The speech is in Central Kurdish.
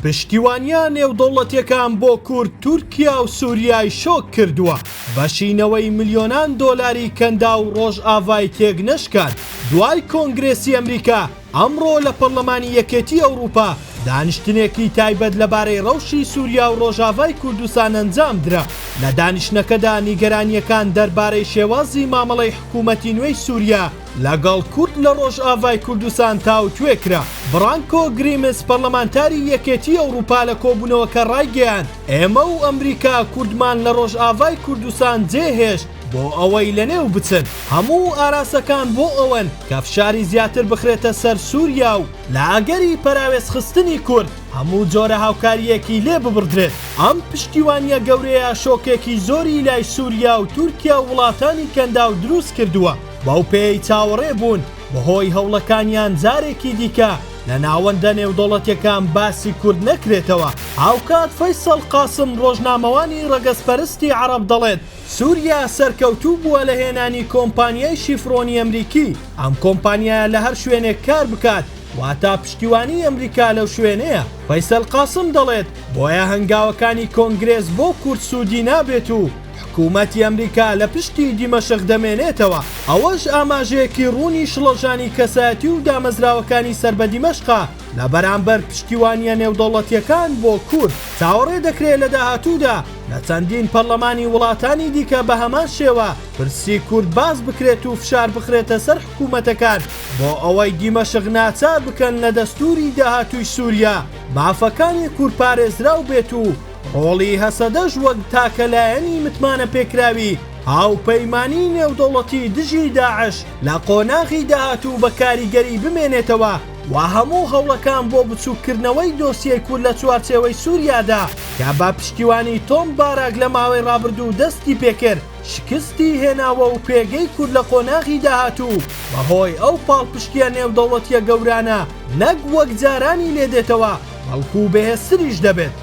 پشتیوانییە نێودەوڵەتییەکان بۆ کورد تورکیا و سوریای شۆک کردووە، بەشی نەوەی ملیۆنان دۆلاری کەنداو ڕۆژئاڤای تێکنەشکاند، دوای کۆنگرێسی ئەمریکا، ئەمڕۆ لە پەڕلەمانی یەکێتی ئەوڕوپا دانیشتنێکی تایبەت لەبارەی ڕەوشی سوریا و ڕۆژاڤای کوردستان ئەنجامدرا، لە دانیشتنەکەدا نیگەرانییەکان دەربارەی شێوازی مامەڵەی حکوومەتی نوێی سوریا، لەگەڵ کورد لە ڕۆژئاڤای کوردستان تاوتوێ کرا. برانکۆ گریمس پەرلەمانتاری یەکێتی ئەوڕوپا لە کۆبونەوەکە ڕایگەیاند، ئێمە و ئەمریکا کوردمان لە ڕۆژئاڤای کوردستان جێ هێشت بۆ ئەوەی لە نێو بچن. هەموو ئاراستەکان بۆ ئەوەن کە فشاری زیاتر بخرێتە سەر سوریا و لە ئەگەری پەراوێز خستنی کورد هەموو جۆرە هاوکارییەکی لێ ببڕدرێت. ئەم پشتیوانییە گەورەیە شۆکێکی زۆری لای سوریا و تورکیا و وڵاتانی کەنداو دروست کردوە. بەو پێیەی چاوەڕێ بوون بەهۆی هەوڵەکانیان جارێکی دیکە لە ناوەندە نێودەوڵەتیەکان باسی کورد نەکرێتەوە، هاوکات فەیسەڵ قاسم ڕۆژنامەوانی ڕەگەزپەرستی عەڕەب دەڵێت، سوریا سەرکەوتوو بووە لە هێنانی کۆمپانیای شیفرۆنی ئەمریکی، ئەم کۆمپانیایە لە هەر شوێنێک کار بکات واتا پشتیوانی ئەمریکا لەو شوێنەیە. فەیسەل قاسم دەڵێت، بۆیە هەنگاوەکانی کۆنگرێس بۆ کورد سوودی نابێت و حکومەتی ئەمریکا لە پشتی دیمەشق دەمێنێتەوە، ئەوەش ئاماژەیەکی ڕوونی شڵەژانی کەسایەتی و دامەزراوەکانی سەر بە دیمەشقە لە بەرامبەر پشتیوانییە نێودەوڵەتییەکان بۆ کورد. چاوەڕێ دەکرێت لە داهاتوودا لە چەندین پەرلەمانی وڵاتانی دیکە بە هەمان شێوە پرسی کورد باس بکرێت و فشار بخرێتە سەر حکومەتەکان بۆ ئەوەی دیمەشق ناچار بکەن لە دەستووری داهاتووی سووریا مافەکانی کورد پارێزراو بێت و هۆڵی هەسەدەش وەک تاکە لایەنی متمانەپێکراوی هاوپەیمانیی نێودەوڵەتی دژی داعش لە قۆناغی داهاتوو بە کاریگەری بمێنێتەوە و هەموو هەوڵەکان بۆ بچووککردنەوەی دۆسیەی کورد لە چوارچێوەی سووریادا کە بە پشتیوانی تۆم باراک لە ماوەی ڕابردوو دەستی پێ کرد شکستی هێناوە و پێگەی کورد لە قۆناغی داهاتوو بەهۆی ئەو پاڵپشتییە نێودەوڵەتییە گەورانە نەک وەک جارانی لێ دێتەوە بەڵکوو بەهێزتریش دەبێت.